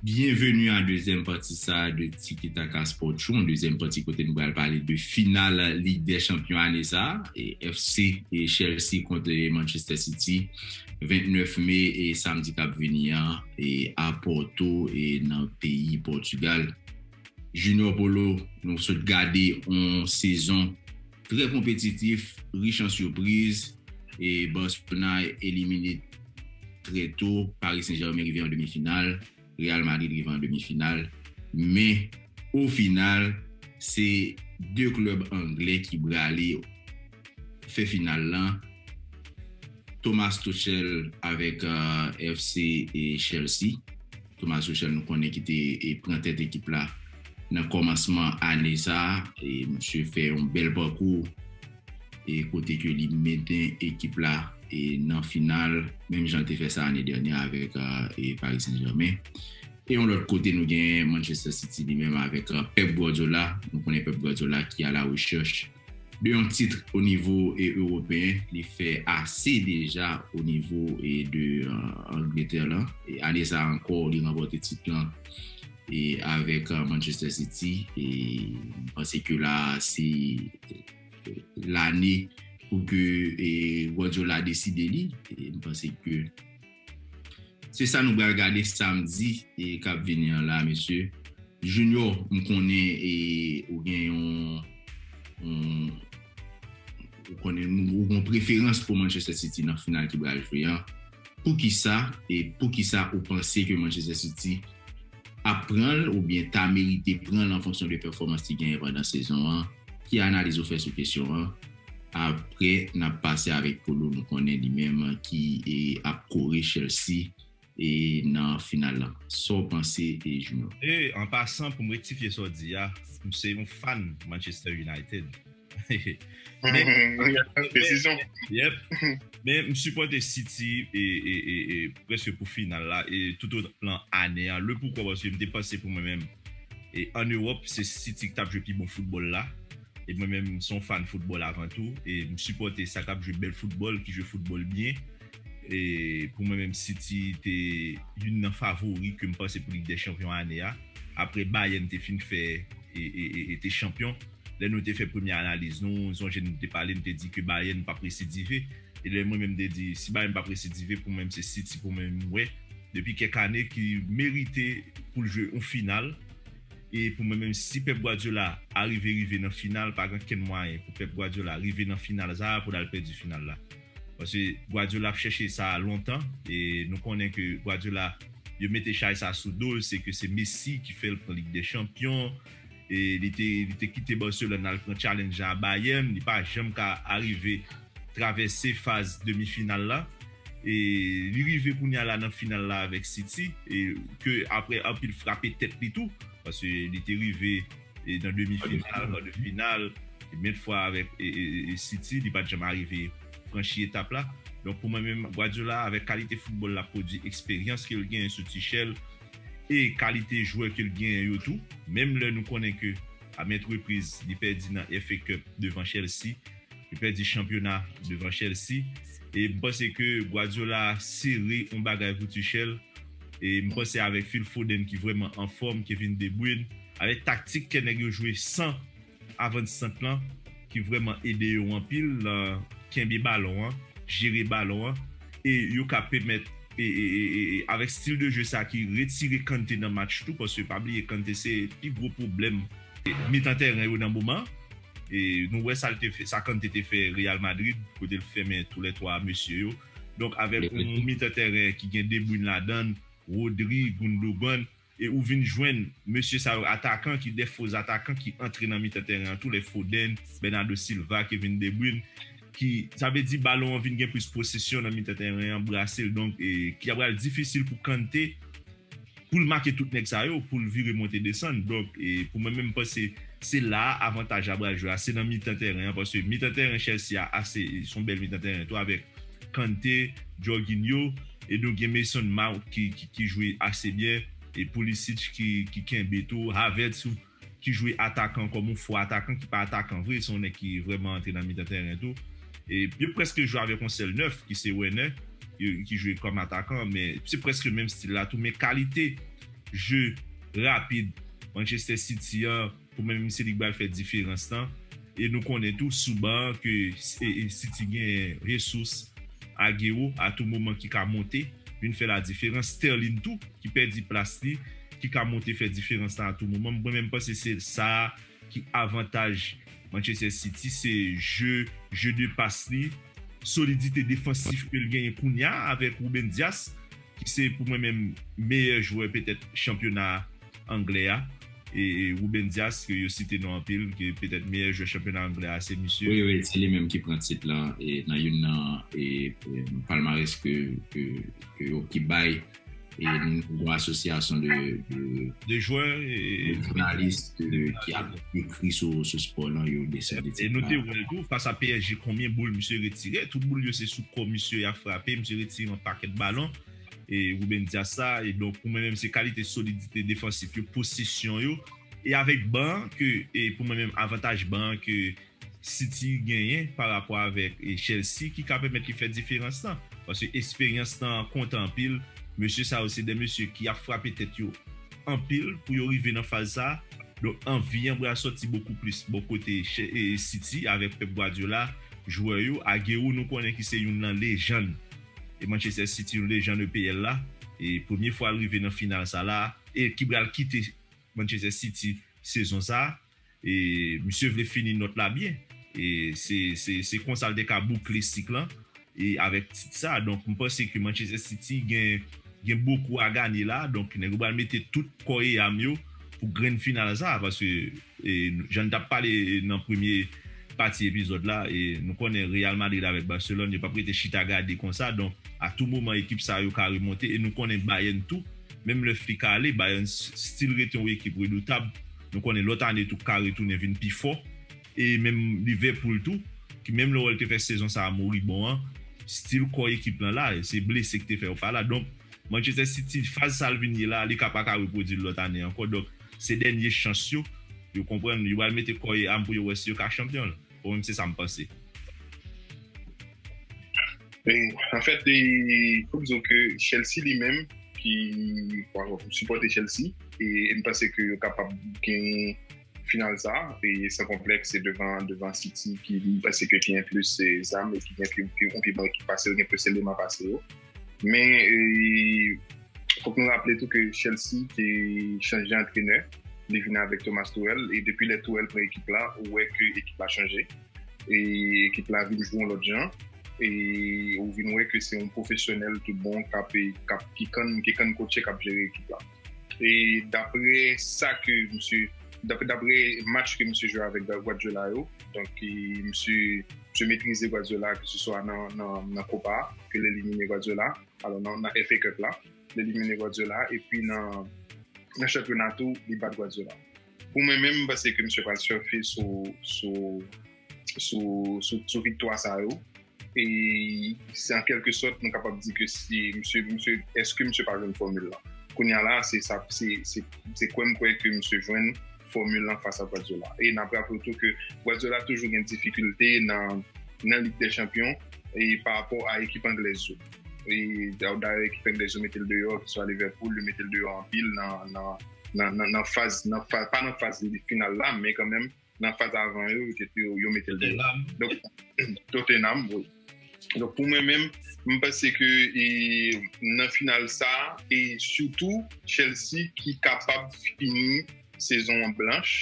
Byenveni a dezyèm pati sa a de Tiki Taka Sport Show, yon dezyèm pati kote nou pral pale de final Lig dè Chanpyon ane sa a, FC Chelsea kont Manchester City. 29 me e samdi kap vini an e a Porto e nan peyi Portugal. Junior Polo nou sot gade on sezon trè konpetitif rich an surpriz e Barcelona elimine trè to Paris Saint Germain rive an demi final. Real Madrid rive an demi final men o final se 2 klub angle ki brale yo fè final lan Thomas Tuchel avèk FC Chelsea Thomas Tuchel nou konnen ki te pran tèt ekip la nan komansman ane sa misye fè yon bèl pakou. e kote ke li menten ekip la e nan final menm jan li te fè sa ane dènyè avèk e Paris Saint Germain e yon lòt kote nou gen Manchester City li menm avèk Pep Guardiola nou konnen Pep Guardiola ki a la rechèch de yon titre o nivo e Europeen li fè ase deja o nivo e de Angleterre lan e ane sa ankò li ranpòte tit lan e avèk Manchester City e m panse ke la se. lane pou ke Guardiola deside li e m panse ke se sa nou bal gade samdi e kap vini an la mesye Junior m konnen e ou gen yon ou konnen ou gen preferans pou Manchester City nan final ki bal jwe an Poukisa e poukisa ou panse ke Manchester City ap pran l oubyen ta merite pran l an fonksyon de pèfòmans li genyen pandan sezon an? Ki analiz ou fè sou kesyon an? Aprè nap pase avèk Polo nou konnen li menm ki ap kore Chelsea nan final lan. Sa w panse Junior? E an pasan pou m rektifye sa w di a, m se yon fan Manchester United. Men m sipote City preske pou final la e tout o plan ane a le poukwa paske m te panse pou mwen menm e an Europe se City ki tap jwe pi bon football la e mwen menm son fan football avan tou e m sipote sa kap jwe bel football ki jwe football byen e pou mwen menm City te youn nan favori ke m panse pou Ligue des Champions ane a apre Bayern te fin fè e te champion. Lè nou te fè premye analiz nou, m sonje nou te pale, m te di ke Bayern pap residive. E lè mwen menm m te di, si Bayern pap residive, pou mwen se City pou mwen m wè depi kèk ane ki merite pou l jwe yon final. E pou mwen menm si Pep Guardiola arive rive nan final, pa gen kenn mwayen pou Pep Guardiola rive nan final sa a pou l al pèdi final la. Paske Guardiola ap chèche sa a lontan e nou konnen ke Guardiola yo mete chay sa a sou do l, se ke se Messi ki fè l pran Lig dè Chanpyon, Li te kite Barcelone al pran challenge la a Bayern, li pa janm ka arive travèse faz demi final la. Li rive kounya la nan final la avèk City ke aprè anpil frape tèt li tou paske li te rive nan demi final, kar de final mèt fwa avèk City li pat janm arive franchi etap la. Donk pou mwen menm Guardiola avèk kalite foutbòl lap pwodui, eksperyans ke l genyen sou Tuchel, e kalite jwè ke l genyen yo tou, menm lè nou konnen ke a mèt repriz li pèdi nan FA Cup devan Chelsea, li pèdi chanpyona devan Chelsea e m panse ke Guardiola sere yon bagay pou Tuchel e m panse avèk Phil Foden ki vrèman anfòm, Kevin De Bruyne, avèk taktik kè nèg yo jwe san Avant sant lan ki vrèman ede yo anpil lan kenbe balon an, jere balon an e yo ka pèmèt avèk stil de jeu sa ki retire Kante nan match tou paske pa bliye Kante se pi gwo pwoblèm mitan tèren yo nan moman e nou wè sa l te fè sa Kante te fè Real Madrid kote l fèmen tou lè 3 mesye yo donk avèk yon mitan tèren ki gen De Bruyne ladan l, Rodri, Gundogan E ou vin jwenn mesye sa yo atakan ki de fo zatakan ki antre nan mitan tèren an tou lè Foden, Bernardo Silva, Kevin De Bruyne ki sa vle di balon an vin gen plis posesyon nan mitan tèren an brase l donk ki ta pral difisil pou Kante pou l make tout nèg sa yo pou l vire monte desann donk pou mwen menm m panse se la a avantaj la pral jwe a se nan mitan tèren an paske mitan tèren Chelsea a ase son bèl mitan tèren tou avèk Kante, Jorginho, e nou gen Mason Mount ki jwe ase byen, e Pulisic ki kenbe tou, Havertz ou ki jwe atakan kòm yon fo atakan ki pa atakan vre, se yon nèg ki vrèman antre nan mitan tèren tou. E yo prèske jwe avèk yon sèl nèf ki se Werner ki jwe kòm atakan men se prèske menm stil la tou men kalite je rapid Manchester City an Pou mwen menm se li k bal fè diferans lan e nou konnen tou sou ban an ke City gen Jesús, Agüero a tou moman ki ka monte vin fè la diferans, Sterling tou ki pèdi plas li ki ka monte fè diferans lan a tou moman, mwen menm panse se sa ki avantaj Manchester City se jeu jeu de passe li, solidite defansif ke l genyen kounya avèk Ruben Dias ki se pou mwen menm meyè jwè petèt chanpyona a. anglè a, e Ruben Dias ke yo site non anpil ke petèt meyè jwè chanpyona anglè a se misye. Wi wi se li menm ki pran tit lan e nan youn nan e palmarès ke ke yo ki bay e yon asosyasyon de de jwè e de jounalis ki ap ekri sou sou spò lan yo desène tit la. E nou te wè l tou fas a psg konbyen boul misye retire, tout boul yo se sou kò misye y ap frape, misye retire yon pakèt balon. e Ruben Dias la e donk pou mwen menm se kalite solidite defansif yo, posesyon yo e avèk ban an ke e pou mwen menm avantaj ban an ke City genyen pa rapò avèk e Chelsea ki ka pèmèt li fè diferans lan paske esperyans tan an konte anpil mesye sa yo se de mesye ki ap frape tèt yo anpil pou yo rive nan faz sa donk anvi an bra sòti bokou plis bò kote City avèk Pep Guardiola jwè yo Aguero nou konnen ki se youn nan lejann. E Manchester City yon lejann EPL la e premye fwa l rive nan final sa la e ki bral kite Manchester City sezon sa e misye vle fini nòt la byen e se se se konsa l te ka boukle sik lan e avèk tit sa donk m panse ke Manchester City gen gen bokou a ganye la donk nèg yo bral mete tout kò e am yo pou grenn final sa paske Jan n t ap pale nan premye pati epizòd la, nou konnen Real Madrid avèk Barcelone yo p ap rete chita gade konsa donk a tou moman ekip sa yo ka remonte e nou konnen Bayern tou menm lè Flick ale Bayern still rete yon ekip redoutab nou konnen lòt ane tou ka retounen vin pi fò e menm Liverpool tou ki menm lè wè l te fè sezon sa a moribon an still kò ekip lan la se blese ki te fè yo pa la donk Manchester City faz sa l vin ye la li ka pa ka repwodui l lòt ane ankò donk. Se dènye chans yo, yo konprann yo pral mete kò e am pou yo wè si yo ka chanpyon l. Bon menm se sa m panse. Anfèt fò m di w ke Chelsea li menm ki m sipòte Chelsea e m panse ke yo kapab genyen final sa e san konplèks se devan City ki m panse ke genyen plis zam e ki gen pi bon ekip pase yo, gen plis eleman pase yo. Men, fòk nou raple tou ke Chelsea te chanje antrenè, li vin avèk Thomas Tuchel, e depi lè Tuchel pran ekip la, ou wè ke ekip la chanje, e ekip la vin jwe yon lòt jan, e ou vin wè ke se yon pwofesyonèl tout bon ki kann kotche kap jere ekip la. E dapre sa ke misye, dapre match ke misye jwe avèk Guardiola yo, donk misye. te metrize Guardiola ke se swa nan Kopa a, ke l elimine Guardiola, alò nan FA Cup la, l elimine Guardiola, epi nan chanpyona tou, li bat Guardiola. Pou mwen menm, m panse ke misye pral sèfe sou viktwa sa yo, e se an kèlke sòt nou kapab di ke si misye, èske misye pa jwenn fòmil la? Kounya la, se kwè m kwè ke misye jwenn fòmil lan fas a Guardiola. E n'ap raple tou ke Guardiola toujou gen difikilte nan Lig dè Chanpyon pa rapò a ekip anglèz yo. Dayè ekip anglèz yo mete l deyò, keswa Liverpool, yo mete l deyò anpil nan faz, pa nan faz final la, men kanmenm nan faz avan yo, yo mete l deyò. Tottenham. Tottenham, wi. Donk pou mwen menm, m panse ke nan final sa, e sitou Chelsea ki kapab fini sezon an blanch,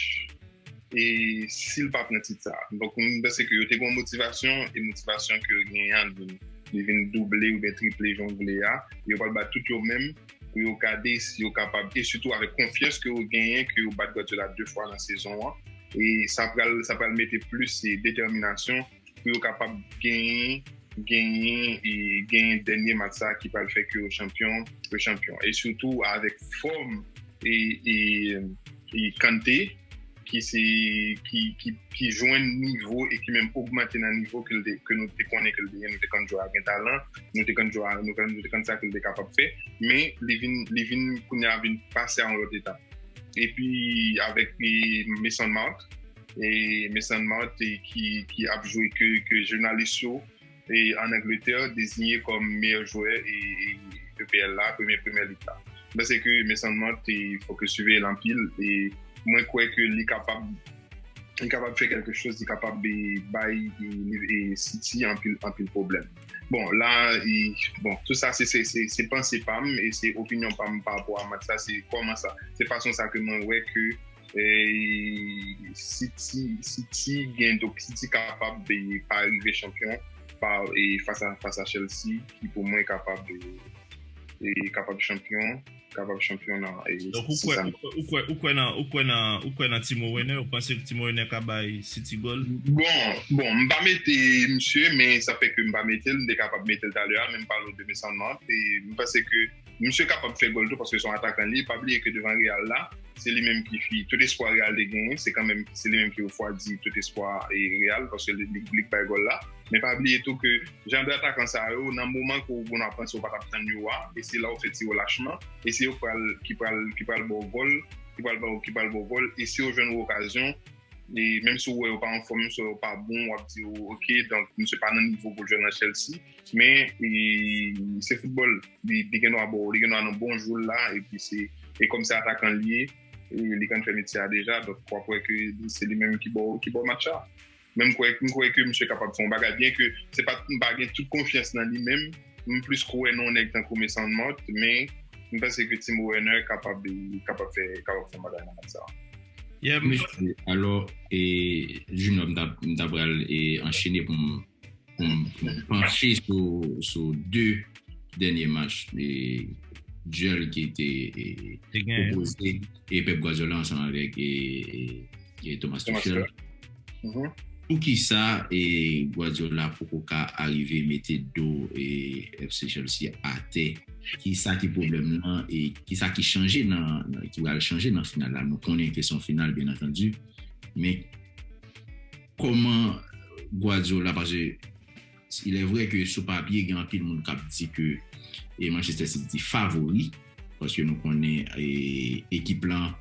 e si l pa pran tit sa. Donk m panse ke yo te gen yon motivasyon, e motivasyon ke yo genyen an li vin double oubyen triple jan w vle a, yo pral bat tout yo menm pou yo gade si yo kapab, e sitou avèk konfyans ke yo genyen ke yo bat Guardiola 2 fwa nan sezon an, e sa pral mete plis detèminasyon. pou yo kapab genyen genyen e genyen dènye match sa ki pral fè ke yo chanpyon yo chanpyon e sitou avèk fòm e e e Kante ki se ki ki ki jwenn nivo e ki menm ogmante nan nivo ke l te ke nou te konnen ke l te gen nou te konn jwè a gen talan nou te konn jwè a nou konn nou te konn sa ke l te kapab fè men li vin li vin kounye a vin pase a yon lòt etap epi avèk e Mason Mount e Mason Mount ki ap jwe ke jounalis yo an Angletè dezinye kòm meyè jwè EPL la, Premye Premyè Lig la. Mwen panse ke Mason Mount fò ke siveye l anpil e mwen kwè ke li kapab li kapab fè kèlke chòz, li kapab bay City anpil pwoblèm. Bon, la, bon, tout sa se panse pa m e se opinyon pa m pa rapò a match la, se kòman sa, se fason sa ke mwen wè ke City gen do pou City kapab pa rive chanpyon fas a Chelsea ki pou mwen kapab kapab chanpyon kapab chanpyon nan Donk ou kwè ou kwè ou kwè nan ou kwè nan ou kwè nan Timo Werner ou panse Timo Werner ka bay City gòl? Bon bon m pa mete misye men sa fè ke m pa mete l m te kapab mete l talè a men m pa lwen demen Soundmount e m panse ke Misye kapab fè gòl tou paske se yon atakan li, pa bliye ke devan Real la, se li menm ki fi, tout espwa Real te genyen, se kanmenm, se li menm ki refwadi tout espwa Real paske li k bay gòl la. Men pa bliye tou ke jan de atakan sa yo, nan moman ke w panse w pa tap tann yo a, e se la w fè ti relachman, e se yo k pral, ki pral, ki pral ba w gòl, ki pral ba w, ki pral ba w gòl, e si yo jwenn yon okazyon, e menm si w wè yo pa anfòm, menm si w wè yo pa bon, w ap di w, ok, donk misye pa nan nivo pou l jwe nan Chelsea. Men, se foutbòl. Li gen dwa baw, li gen dwa nan bon jou l la, epi se, e kòm se atakan li ye, li konn fè metye a deja, donk wap wè ke se li menm ki baw, ki baw match la. Men m kwè, m kwè ke misye kapab fè yon bagay, byen ke se pa, m pa gen tout konfyans nan li menm, m plis kwè nan yon nèg tankou Mason Mount, men m panse ke Timo Werner kapab fè, kapab fè yon bagay nan match sa. Yè mesye, alò, e Junior m ta, m ta pral e anchene pou m panche sou 2 dènye match duel ki te opoze Pep Guardiola ansanm avèk Thomas Tuchel poukisa Guardiola poko ka arive mete do FC Chelsea atè kisa ki pwoblèm nan e kisa ki chanje nan ki pral chanje nan final la nou konnen ke son final byen antandu men. Koman Guardiola pase ilè vrè ke sou papye gen anpil moun k ap di ke Manchester City favori paske nou konnen ekip lan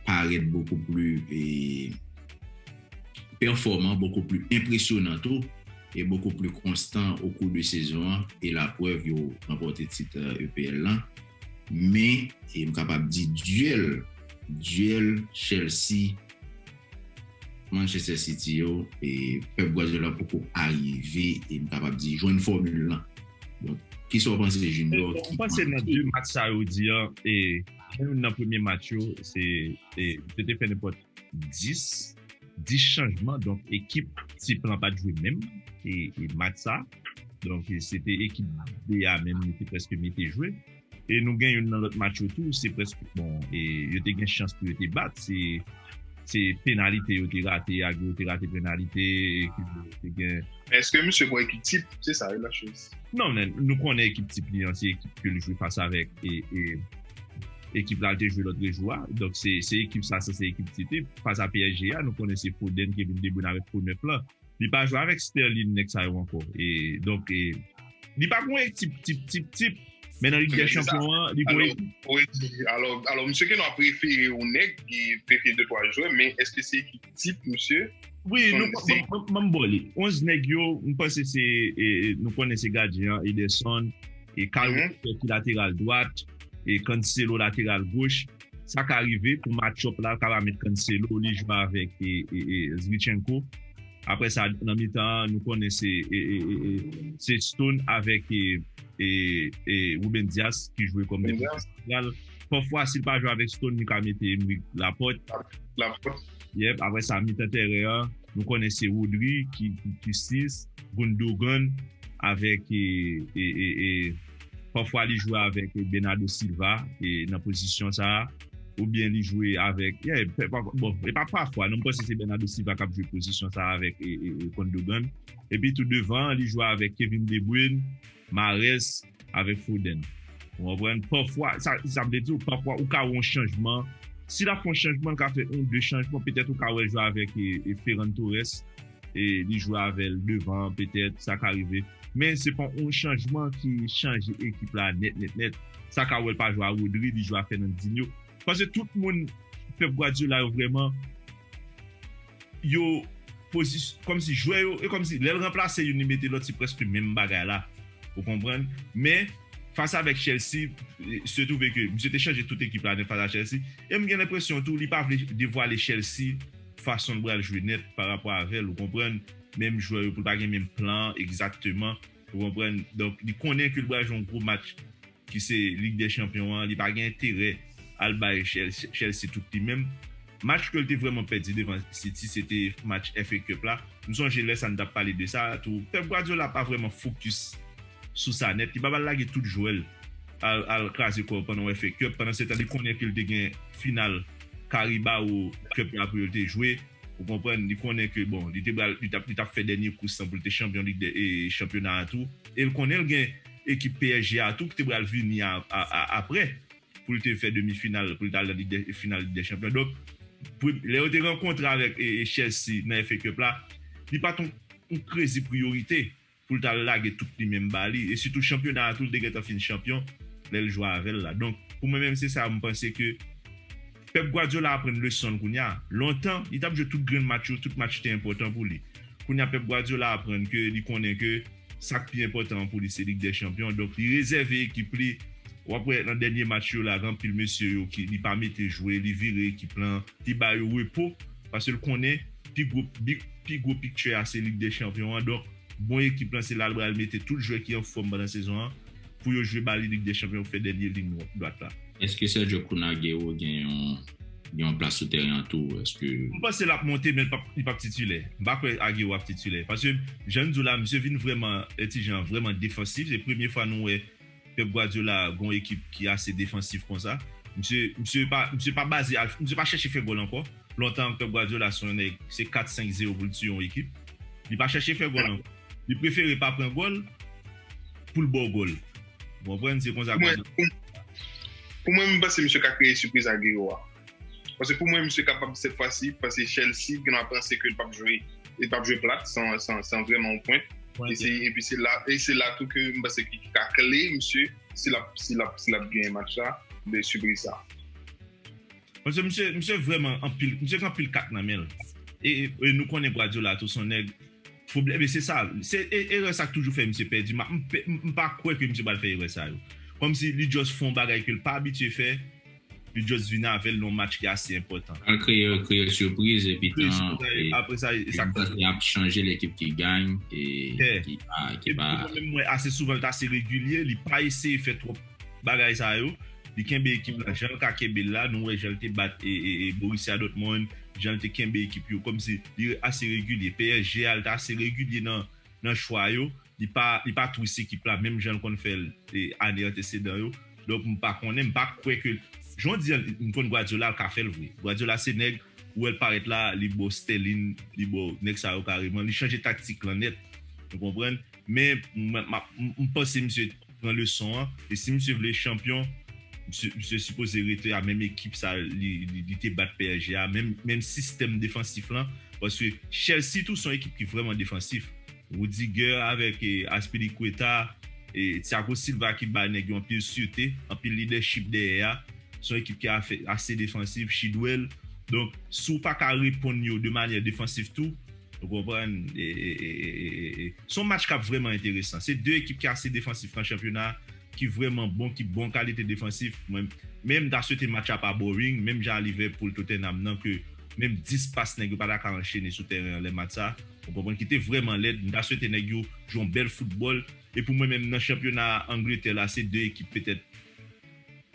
parèt bokou pli pèfòman, bokou pli enpresyonan tou e bokou pli konstan okou de sezon an e laprèv yo ranpòte tit EPL lan men m kapab di dyèl dyèl Chelsea Manchester City yo, Pep Guardiola poko arive e m kapab di jwenn fòmil lan. Donk, ki sa w panse Junior? M panse nan 2 match sa yo di an, e gen youn nan premye match yo, se yo te fè nenpòt 10, 10 chanjman, donk ekip tip lan pat jwe menm match sa. Donk se te ekip B a menm yo te prèske mete jwe. E nou gen youn nan lòt match yo tou, se prèske, bon, e yo te gen chans pou yo te bat, se, se penalite yo te rate, Agüero yo te rate penalite, ekip yo te gen. Men eske misye gon ekip tip? Se sa wi la choz. Non men, nou konnen ekip tip li an, se ekip ke li jwe fas avèk, e, e ekip la li te jwe lòtrejou a, donk se, se ekip sa, se ekip tip li, fas a psg a, nou konnen se Foden, Kevin de Bruyne avèk fo 9 lan. Li pa jwe avèk Sterlin nèg sa yo ankò e donk e li pa gon ekip tip tip tip men nan lig dè chanpyon an li gon ekip. Alò alò misye gen dwa prefere yon nèg e prefere 2 3 jwè men eske se ekip tip misye? Wi nou konn banm bo li. 11 nèg yo m panse se e nou konnen se gadyen an Ederson e Kyle Walker ki lateral dwat e Cancelo lateral goch. Sa ka rive pou matchup la ka pa met Cancelo li jwe avèk Zinchenko aprè sa nan mitan an nou konnen se Stone avèk Ruben Dias ki jwe kòm defansè santral pafwa si l pa jwe avèk Stone li ka mete Aymeric Laporte yep aprè sa mitan tèren an nou konnen se Rodri ki 6 Gundogan avèk. Pafwa li jwe avèk Bernardo Silva nan pozisyon sa a oubyen li jwe avèk, bon e pa pafwa non m panse se Bernardo Silva k ap jwe pozisyon sa a avèk Gundogan. Epi tou devan an li jwe avèk Kevin De Bruyne, Mahrez avèk Foden. Ou konprann? Pafwa, sa m te di w, pafwa ou ka wè yon chanjman. Si l ap fè yon chanjman, l ka fè yon, de chanjman. Petèt ou ka wè l jwe avèk Ferran Torres. e li jwe avèl devan petèt sa ka rive men se pa yon chanjman ki chanje ekip la nèt nèt nèt sa ka wèl pa jwe a Rodri li jwe a Fernandinho pase tout moun Pep Guardiola yo vrèman yo posi kòmsi jwè yo e kòmsi lèl ranplase youn li mete lòt se prèske menm bagay la ou konprann men fas avèk Chelsea se twouve ke misye te chanje tout ekip la nèt fas a Chelsea e m gen lenpresyon tou li pa vle devwale Chelsea. fason l pral jwe nèt pa rapò avè l ou konprann, menm jwè yo pou l pa gen menm plan an egzakteman ou konprann, donk li konnen ke l pral jwe yon gwo match ki se lig dè chanpyon an, li pa gen enterè al bay Chelsea tout li menm. Match ke l te vrèman pèdi devan City se te match FA Cup la, m sonje lè sa n t ap pale de sa tou, Pep Guardiola pa vrèman fokis. sou sa nèt li pap al lage tout jwèl al al kraze kòl pandan wè fè cup pandan setan li konnen ke li te gen final caribao cup la pou yo te jwe ou konprann li konnen ke bon li te bal li tap li tap fè dènye kous lan pou li te chanpyon lig dè e chanpyona a tou el konnen li gen ekip psg a tou ki te bal vini a a a aprè pou li te fè demi final pou li tal nan lig dè final lig dè chanpyon donk pou lè yo te rankontre avèk e chelsea nan FA cup la li pat yon yon krezi priyorite. pou l t al lage tout li menm ba li e sitou chanpyona a tou l te gentan fin chanpyon lè l jwe avè l la donk pou mwen menm se sa m panse ke Pep Guardiola aprann leson l kounya lontan li t ap jwe tout grenn match yo tout match te enpòtan pou li kounya Pep Guardiola aprann ke li konnen ke sa k pi enpòtan an pou li se Lig dè Chanpyon donk li rezève ekip li w ap wè nan dènye match yo la gen anpil mesye yo ki li pa mete jwe li vire ekip lan li ba yo repo. paske l konnen pi gwo pi gwo pikchè a se Lig dè Chanpyon an donk bon ekip lan se la l pral mete tout jwè ki anfòm pandan sezon an pou yo jwe ba li Lig dè Chanpyon pou fè dènye liy dwat la. Èske Sergio Kun Agüero gen yon plas sou tèren an tou? Èske. M panse l ap monte men li p ap titilè. M pa kwè Agüero ap titilè paske jan n di w la misye vin vrèman lè ti jan an vrèman defansif se premye fwa nou wè Pep Guardiola gon ekip ki ase defansif konsa. Misye misye pa misye pa baze al misye pa chèche fè gòl ankò. Lontan Pep Guardiola se yon nèg se 4 5 zero pou l tiye yon ekip. Li pa chèche fè gòl ankò. Li prefere pa pran gòl pou l ba w gòl. Ou konprann? Se konsa Pou mwen, pou mwen m panse misye ka kreye sipriz Agüero a. Pase pou mwen misye kapab sèt fwa si, pase Chelsea gen dwa panse ke l pap jwe, e pap jwe plat san vreman yon pwent. E pi se la, e se la tou ke m panse ki ka kle misye, si lap, si lap, si lap genyen match la, de sipriz sa. Pase misye, misye vreman anpil, misye gen anpil kat nan men l. E, e nou konnen Guardiola tou son nèg, pwoblèm e se sa, se e, erè sa k toujou fè misye pèdi ma, m pa kwè ke misye pral fè erè sa yo. Kòmsi li just fon bagay ke l pa abitye fè. Li just vin avèl nan yon match ki ase enpòtan. Pral kreye yo kreye surprise epi tan epi tan yap chanje lekip ki gany e ki pa ki pa. Epi menm mwen ase souvan li ta ase regilye li pa eseye fè twòp bagay sa yo li kenbe ekip la janl ka kenbe la nou wè janl te bat e Borussia Dortmund janl te kenbe ekip yo kòmsi li ase regilye psg a li ta ase regilye nan chwa yo Li pa li pa twis ekip la menm janl konn fèl ane antesedan yo donk m pa konnen m pa kwè ke jan w di an m konn Guardiola l ka fèl vre Guardiola se nèg ou wèl parèt la li bo Sterling li bo nèg sa yo kareman li chanje taktik lan nèt ou konprann men m panse misye pran leson an e si misye vle chanpyon misye sipoze rete a menm ekip sa li te bat psg a menm sistèm defansif lan paske Chelsea tou son ekip ki vrèman defansif. Rudiger avèk Azpilicueta, Thiago Silva ki bay nèg yo anpil sirte, anpil lidèchip dèyè a, se yon ekip ki ase defansiv, Chidwell, donk si w pa ka reponn yo de manyè defansiv tou, ou konprann, se yon match k ap vrèman enteresan, se 2 ekip ki ase defansif nan chanpyona a, ki vrèman bon, ki bon kalite defansif, men m ta swete match la pa boring, menm jan a Liverpool-Tottenham nan ke menm 10 pas nèg yo pa ta ka anchene sou tèren an lè match sa. Ou konprann ki te vrèman lèd, m ta swete nèg yo jwe yon bèl foutbòl, e pou mwen menm nan chanpyona Angletè la se 2 ekip petèt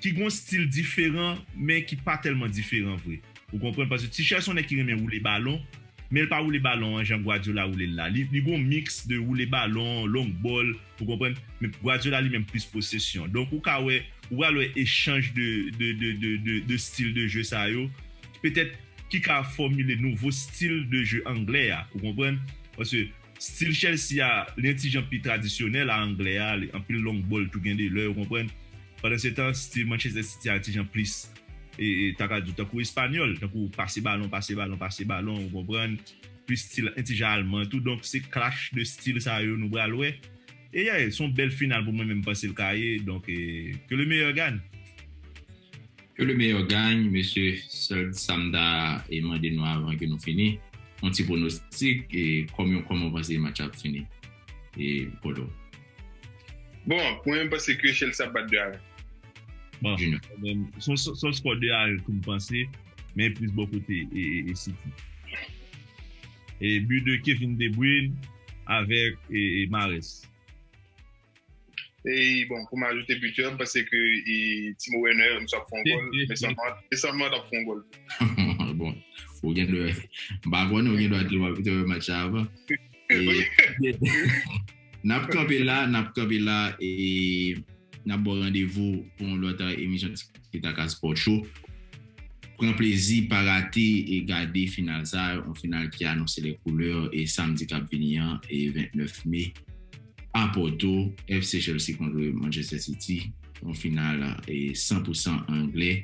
ki gon stil diferan men ki pa tèlman diferan vre ou konprann paske Tuchel son nèg ki renmen woule balon men l pa woule balon an jan Guardiola woule l la li li gon miks de woule balon long bòl ou konprann men Guardiola li menm plis posesyon donk ou ka wè ou pral wè echanj de de de de de stil de jeu sa yo petèt ki ka fòmile nouvo stil de je anglè a, ou konprann? Paske stil Chelsea a, li yon ti jan pi tradisyonèl a anglè a, li anpil long bòl tou gen de lè, ou konprann? Pandansetan, stil Manchester City a ti jan plis, e, e, ta ka di w tankou espanyòl, tankou pase balon, pase balon, pase balon, ou konprann? Plis stil yon ti jan alman tou. Donk, se clash de stil sa yo nou pral wè. Eyy son bèl final pou mwen men mpanse l ka ye donk que le meilleur gagne. Que le meilleur gagne mesye sèl sam ta mande nou avan ke nou fini yon ti pronostic kòm yon kòman w panse match la ap fini Polo. Bon mwen menm panse ke Chelsea ap bat 2 a 1. Bon mwen menm son skò 2 a 1 tou mpanse men plis bò kote City. But de Kevin De Bruyne avèk Mahrez. E bon pou m ajoute buteur m panse ke Timo Werner mswa ap fè yon gòl, Mason Mount, Mason Mount ap fè yon gòl tou. Bon, ou gen dwa, m pa konnen ou gen dwa di w ap wè match sa avan. Nap kanpe la, nap kanpe la e nap baw randevou pou yon lòt emisyon Tikitaka Sport Show. Pran plezi, pa rate e gade final sa, yon final ki anonse les couleurs e samdi kap vini an e 29 me a Porto, FC Chelsea kontre Manchester City, yon final e 100 pou 100 angle.